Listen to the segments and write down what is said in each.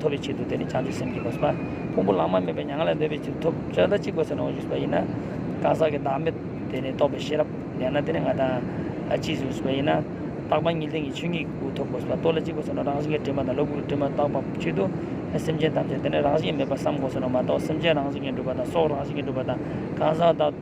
ཐོབ་པའི་ཆེད་དུ་དེ་ནི་བྱང་ཆུབ་སེམས་ཀྱི་གོ་ས། ཕུང་པོ་ལམ་མ་མེད་པའི་མྱ་ངན་ལས་འདས་པའི་ཆེད་དུ་ཐོབ། ཅི་ལྟར་གཅིག་པ་ཚེ་ན་འོང་ཞིག་ཟེར་བ་ཡིན་ན། གང་ཟག་གི་བདག་མེད་དེ་ནི་རྟོགས་པའི་ཤེས་རབ་ལྡན་ན་དེ་ནི་ང་དང་གཅིག་ཟུང་ཟེར་བ་ཡིན་ན། རྟག་པ་ཉིད་དེང་གི་ཆོས་ཉིད་ཀྱི་སྐུ་ཐོབ་གོ་ཟེར་བ་རྟོགས་ལ་གཅིག་པ་ཚེ་ན་རང་བཞིན་གྱི་དྲི་མ་དང་ལོ་དགུ་གི་དྲི་མ་བཏགས་པ་ཆེད་དུ། སེམས་ཅན་ཐམས་ཅད་དེ་ནི་རང་བཞིན་མེད་པར་བསམ་གོ་ཟེར་བ་མ་གཏོགས་སེམས་ཅན་རང་བཞིན་གྱིས་འགྲུབ་པ་དང་སྲོག་རང་བཞིན་གྱིས་འགྲུབ་པ་དང་གང་ཟག་བདག།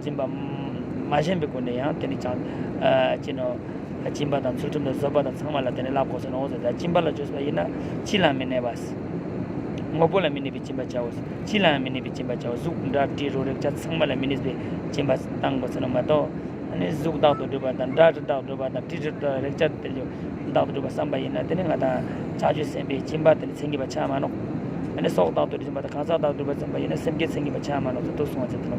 སྦྱིན་པ། མ་བྱིན་པའི་སྒོ་ནས་ཡང་དེ་ནི་བྱང། བྱིན་ནོ། སྦྱིན་པ་དང་ཚུལ་ཁྲིམས་དང་བཟོད་པ་དང་ཚངས་མ་ལ་དེ་ནི་བླ་གོག་ཟེར་ནོ་འོ་ཟེར་ད་སྦྱིན་པ་ལ་བཅོས་པ་ཡིན་ན་ཅི་ལའང་མི་གནས་པ། དངོས་པོ་ལ་མི་གནས་པའི་སྦྱིན་པ་བྱའོ། ཅི་ལའང་མི་གནས་པའི་སྦྱིན་པ་བྱའོ་གཟུགས་འདྲ་དྲི་རོ་རེག་བྱ་ཚངས་མ་ལ་མི་གནས་པའི་སྦྱིན་པ་བཏང་གོ་ཟེར་ནོ་མ་གཏོགས། གཟུགས་རྟག་ཏུ་སྒྲིབ་པ་དང་སྒྲ་རྟག་ཏུ་སྒྲིབ་པ་དང་དྲི་རྟག་ཏུ་རེག་བྱ་དེ། བདག་ཏུ་གྲུབ་པར་བསམ་པ་ཡིན་ནོ། དེ་ནི་ང་དང། ཕྱག་མཆོད་སེམས་དཔའི་སྦྱིན་པ་དེ་ནི་མཚན་གྱི་བ་ཆ་མ་ནོ། འདི་ནི་སྲོག་བདག་ཏུ་གྲུབ་བྱིན་པ་དང་གང་ཟག་བདག་ཏུ་གྲུབ་པར་བརྩོན་པ་ཡིན་ནོ་སེམས་བསྐྱེད་མཚན་གྱི་བ་ཆ་མ་ནོ་ཚུལ་དུ་གསུང་བ་ཅན་དུ་ནོ།